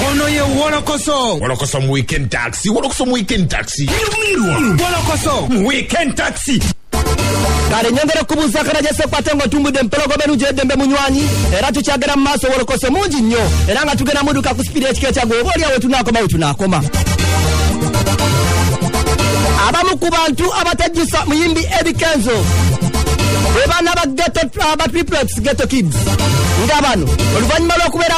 ono ye wolokoso wolokoso mu weekend taxi wolokoso mu weekend taxi wolokoso mu weekend taxi kale nyongera okubuuza akanajese kwate nga otumbudde empologoma enungi eddembe munywanyi era tukyagera mu maaso wolokoso mungi nnyo era nga tugenda muduka ku sipidi ekika ekyagwe oba oliawo wetunaakoma wetunaakoma abamu ku bantu abatajjusa muyimbi edi kenzo bwe baana ba geto ba triplex geto kids nga bano oluvannyuma lw'okubeera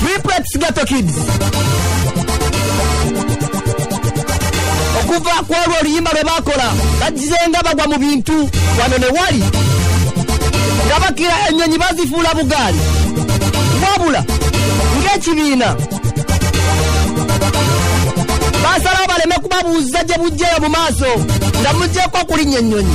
triplets ghetto kids okuva ku olwo oluyimba lwe baakola bagizenga bagwa mu bintu wano ne wali nga bakira ennyonyi bazifuula bugaali wabula ng'ekibiina basalawo baleme kubabuuza gye bujjeyo mu maaso nga mujjeeko okulinnya ennyonyi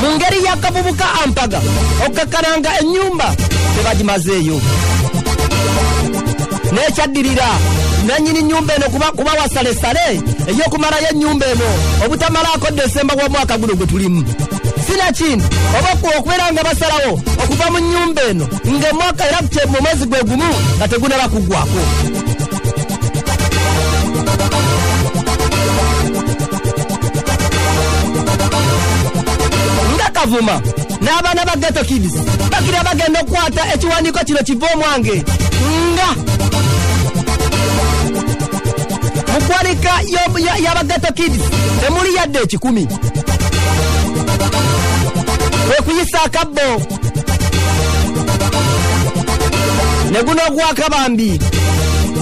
mu ngeri y'akavubuka ampaga okukakkananga ennyumba tebagimazeeyo n'ekyaddirira nannyini nnyumba eno kuba kuba wasalesale ey'okumalayo ennyumba eno obutamalaako desemba w'omwaka guno gwe tulimu sinakindi oba okubeera nga basalawo okuva mu nnyumba eno ng'emwaka era mu mwezi gwe gumu nga tegunaba kuggwako nga kavuma n'abaana ba geto kids bakira bagenda okukwata ekiwandiiko kino kiva omwange nga mu kwanika y'abageto kids temuli yadde ekikumi kwekuyisa akabbo ne guno ogwaka bambi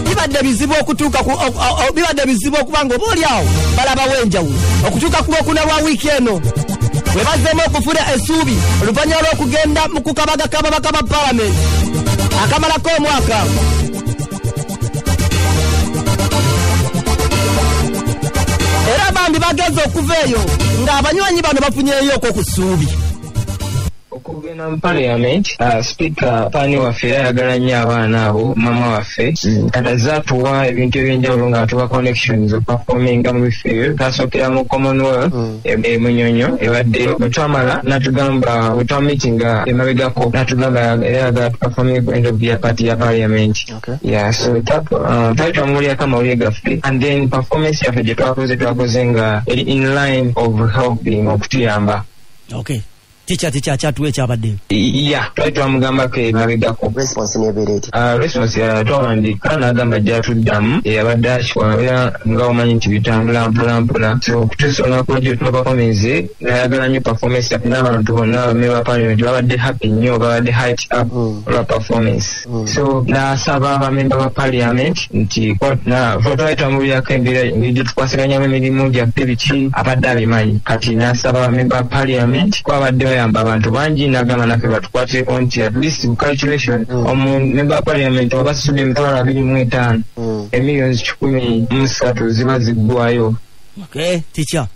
bibadde bizibu okutuuka bibadde bizibu okuba nga oba oli awo balabawo enjawulo okutuuka ku lwokuna lwa wiiki eno we bazzeemu okufuna esuubi oluvannyuma lw'okugenda mu kukabaga kababaka ba palamenti akamalako omwaka era bambi bageze okuva eyo ng'abanywanyi bano bafunyeyo okwo ku ssuubi okugenda mu parliament uh, speaker pani waffe era ayagala nnyo abaana abo mama waffe mm. kati azze atuwa ebintu ebyenjawulo nga atuwa connections okupafominga mu bifo ebyo tasookera mu commonwealth mm. e, e munyonyo ebadde bwetwamala natugamba bwetwamitinga emabegako natugamba era ayagala tupafominge ku end of year party ya parliament ya so uh, twali twamuwulirako amawulire gaffe and then performance yaffe gye twakoze twakoze nga eri in line of helping okutuyamba okay tikya tikya kyatuwa ekyabaddeyo ya twali twamugambako emabegako response nebeera eti ah, response twawandiika n'agamba gyatuddamu eyabadde akikwabera nga omanyi nti bitambula mpolampola so okutuusa olunaku lwajjo tubabakomenze nayagala nyo performance n'abantu bonna bame ba parliament babadde happy nnyo babadde height up mm. olwa performance mm. so nasaba abamemba ba parliament nti twayita mu byaka embeera gyetukwasiganyamu emirimu gyaffe biki abadde abimanyi kati nasaba abamemba ba parliament kwabadde bayamba abantu bangi nagamba nafe batukwatireko nti at least calculation mm. omumemba wa parliament obasudde emitwalo abiri mu etaano mm. emillions kikumi musatu ziba ziggwayo okay,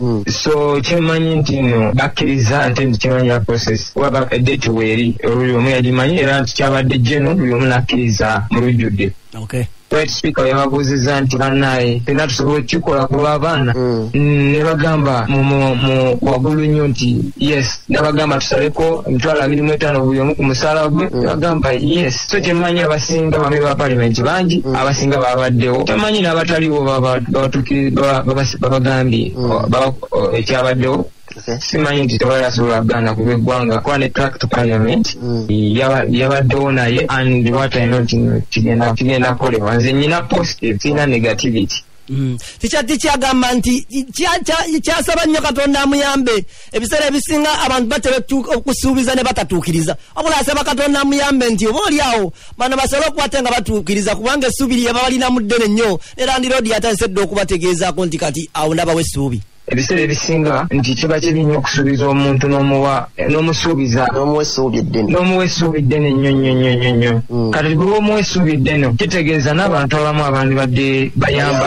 mm. so kyemanyi nti no bakkiriza nti nti kimanyi ya process waba date weeri oluli omu yagimanyi era nti kyabadde jeno buli omu nakkiriza mu lujjudde okay right speaker yababuuzizza nti banaye fena tusobola okukikola ku lw'abaana mm. mm, ne bagamba mu wagulu nnyo nti yes nabagamba tusaleko emitwalo abiri mu etaano buli omu ku musaala gwe mm. ne bagamba yes so temanyi abasinga bame ba palimenti bangi mm. abasinga babaddewo temanyi n'abataliwo babagambye mm. ekyabaddewo simanyi nti tewali asobola kugana kuba eggwanga kuba ne tract parliament mm. yabaddewo naye and what i not kigenda kukolebwa nze nyina positive sirina negativity Mm. tikyati kyagamba nti kyasaba nnyo katonda amuyambe ebiseera ebisinga abantu batera okusuubiza ne batatuukiriza wabula asaba katonda amuyambe nti oba oli awo bano basobola okukwate nga batuukiriza kubanga essuubi lye babalinamu ddene nnyo ne landiroodi yatandise dda okubategeezaako nti kati awo ndabawo essuubi ebiseera ebisinga nti kiba kibi nnyo okusuubiza omuntu n'omuwa n'omusuubiza n'omuwa essuubi eddene n'omuwa essuubi eddene nnyo nnyo nnyo nnyo nnyo mm. kati bwe omuwa essuubi eddene kitegeeza n'abantu abamu abandi badde bayamba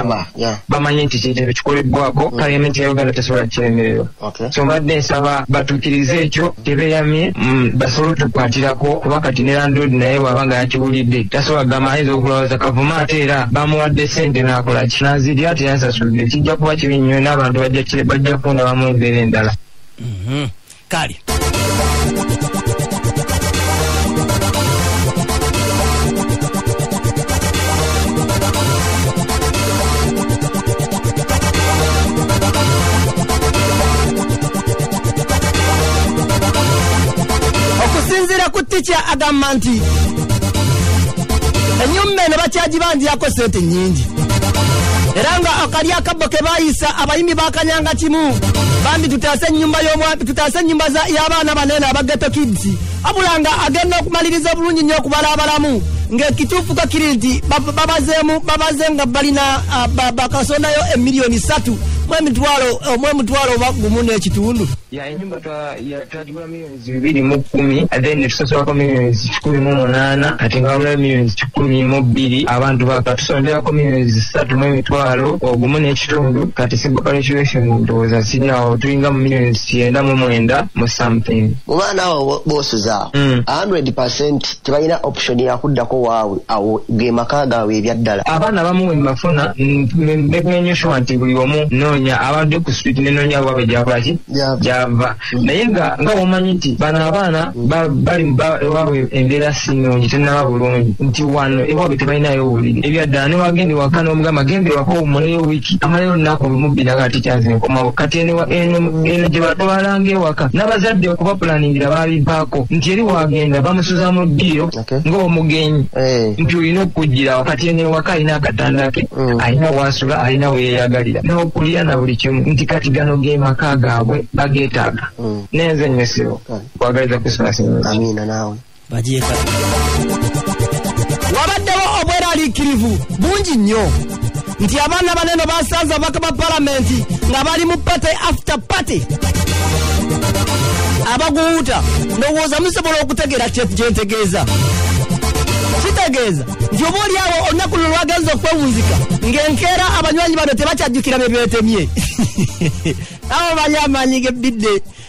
bamanye nti kintu ekikolebbwako mm. kale ementi ya uganda tesobola kiremererwa so mbadde nsaba batuukirize ekyo tebeyamye mm, basobole otukwatirako kuba kati ne landlord naye bwaba nga yakiwulidde tasobola kugamba ayinza okulowooza kavuma ate era bamuwadde sente n'akola kinazirya yansasudde kijja kuba kibi nnyo n'abantu bajja kundabamu embeera endala mhm. kale okusinziira ku tikya agamba nti enyumba eno bakyagibanjirako sente nyingi era nga akali akabbo ke bayisa abayimbi bakanyanga kimu bambi tutaase enyumba y'omwami tutaase enyumba za- y'abaana banene abageto kids abula nga agenda okumaliriza obulungi nnyo okubala abalamu ng'ekituufu ko kiri nti bab- babazeemu babaze nga balina ah, ba- bakasondayo emiliyoni satu mu emitwalo mu emitwalo oba gumu n'ekitundu ya enyumba twa- ya- twagigulamu bibiri mu kkumi ate netusasulako millions kikumi mu munaana ate nga wamulayo millions kikumi mu bbiri abantu bakatusonderako millions zisatu mu emitwalo ogumu n'ekitundu kati civil calculation ndowooza siri awo tulinga mu millions kyenda mu mwenda mu something mu baana awo boosuza hmm. hundred percent tebalina option yakuddako waabwe awo ge maka gaabwe ebyaddala abaana abamu wembafuna bekunenyo shuwa nti buli omu noonya abadde ku street nenoonya waabwe gyakolaki gyava naye nga nga womanyi nti bano abaana ba- bali ba- ewaabwe embeera si nnungi tenaba bulungi nti wano ewaabwe tebalinayo obuliri ebyaddala newagenda ewaka n'omugamba genda ewaka owumuleyo wiiki amalayo olunaku lumu bbiri nga ati kyanze nkomawo kati eno ewa- eno eno gye batwalanga ewaka n'abazadde okubapulaningira baabivaako nti eri wagenda bamusuza mu ddiiro Okay. ng'omugenyi Eh. nti olina okujjirawo kati eno ewaka alina akatanda ke Mm. alina waasula alina weyeyagalira n'okulya na buli kimu nti kati gano ge maka gaabwe bageetaaga Mm. nenze nyesero Kale. kwagaliza christmas ennungi amiina naawe bagyeka wabaddewo obweraliikirivu bungi nnyo nti abaana baneno basanze ababaka ba palamenti nga bali mu pate after party abaguwuuta ndowooza musobola okutegeera kyentegeeza kitegeeza nti oba oli awo olunaku luno lwagenza okwewunzika ng'enkeera abanywanyi bano tebakyajjukira bye beetemye awo bali amaanyi g'ebbidde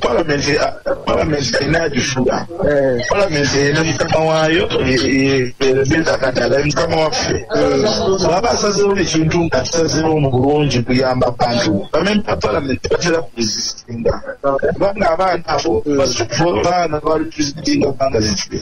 palamenti palamenti erina agifuga palamenti erina mukama waayo ezakati alaye mukama waffe bwaba asazewo ekintu nga kisazewo mu bulungi kuyamba abantu bamemba palamenti batera kuzisinga kubanga abaana abo babaana bali presidenti nga banga zikiri